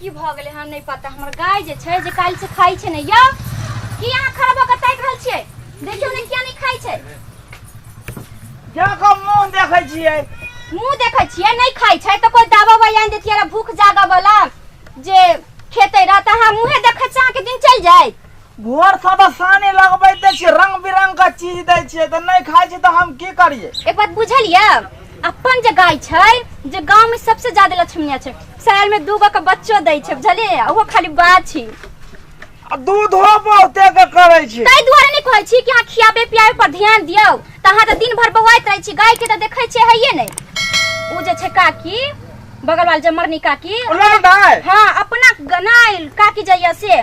की भऽ गेलै हँ नहि पता हमर गाय जे छै जे काल्हि से खाइ छै ने यौ की अहाँ खड़ा भऽ कऽ ताकि रहल छियै देखियौ ने किया नहि खाइ छै जाकऽ मुँह देखै छियै मुँह देखै छियै नहि खाइ छै तऽ कोइ दावा वाइ आनि देतियै रऽ भूख जागऽ वाला जे खेतै रह तऽ अहाँ मुँहे देखै छियै अहाँके दिन चलि जाय भोर से तऽ सानी लगबैते छियै रंग बिरंग के चीज दै छियै तऽ नहि खाइ छी तऽ हम की करियै एक बात बुझलियै अपन जे गाय छै जे गांव में सबसे ज्यादा लक्ष्मीया छै शहर में दूगो के बच्चो दै छै बुझलियै ओहो खाली बाछी आ दूधो बहुते के करै छी ताहि दुआरे नहि कहै छी कि अहाँ खियाबे पियाबे पर ध्यान दियौ तऽ अहाँ तऽ दिन भर बौआइत रहै छी गाय के तऽ देखै छियै हइये नहि ओ जे छै काकी बगल वाल जे मरनी काकी ओ लौट आय हाँ अपना गनाइल काकी जइया से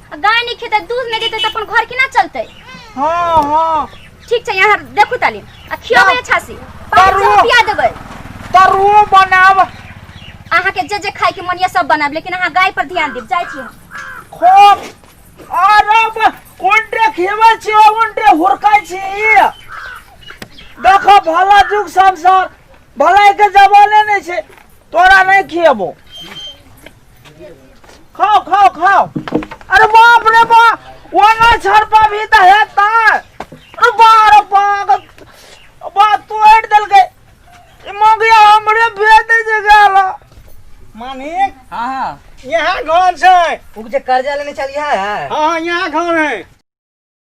आ गाय नहीं खेते दूध नहीं देते तो अपन घर की ना चलते हाँ हाँ ठीक छै यहाँ देखू ताली आ खियो में अच्छा से पाँच सौ रुपया देबै तरुओ बनाब अहाँ के जे जे खाए के मनिया सब बनाब लेकिन अहाँ गाय पर ध्यान देब जाइ छी हम। खोप आरब उनटे खेबे छी उनटे हुरकाय छी देखो भला जुग संसार भलाई के जमाने नहीं छे तोरा नहीं खियबो खाओ खाओ खाओ अरे बाप रे बा वाला छरपा भी त है ता अरे बार पाग बा तोड़ दल गए ई मोगिया हमरे भेद जे गेल मानिक हाँ हाँ यहाँ घर छै उ जे कर्जा लेने चलिया है हाँ यहाँ घर है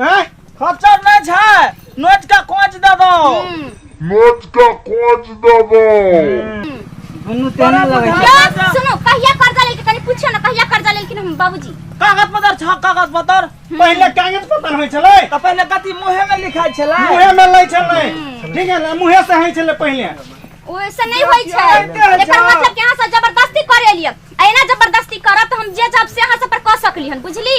हैं खर्चर नहीं छै नोट का कोच दे दो नोट का कोच दे दो दुनू तेना लगे छै यार सुनो कहिया कर्जा लेलके कनी पूछियो ना कहिया कर्जा लेलकिन हम बाबूजी कागज पत्र छ कागज पत्र पहिले कागज पत्र होय छले त पहिले कथि मुहे में लिखाय छले मुहे में लै छले ठीक है ना मुहे से होय छले पहिले ओइसे नहीं होय छै एकर मतलब कि अहाँ से जबरदस्ती करे लिए एना जबरदस्ती करब त हम जे जब से अहाँ से पर क सकली हन बुझली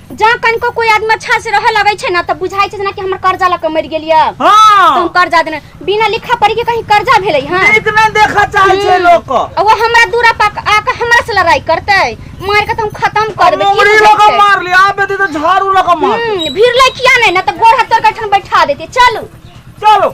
जहाँ कनिको कोई आदमी अच्छा से रहे लगे छै ना त बुझाई छै ना कि हमर कर्जा लग के मर गेलिए त हम हाँ कर्जा देने बिना लिखा पढ़ी के कहीं कर्जा भेलै हां नीक नहीं देखा चाहे छे लोग को आ वो हमरा दूरा पाक आके हमरा से लड़ाई करते मार के तुम खत्म कर देबे मुंगरी की लोग मार लिया आप बेटी तो झाड़ू लोग मार हम्म भीड़ ले किया नहीं ना तो गोड़ हाथ तोड़ के ठन बैठा देते चलू चलो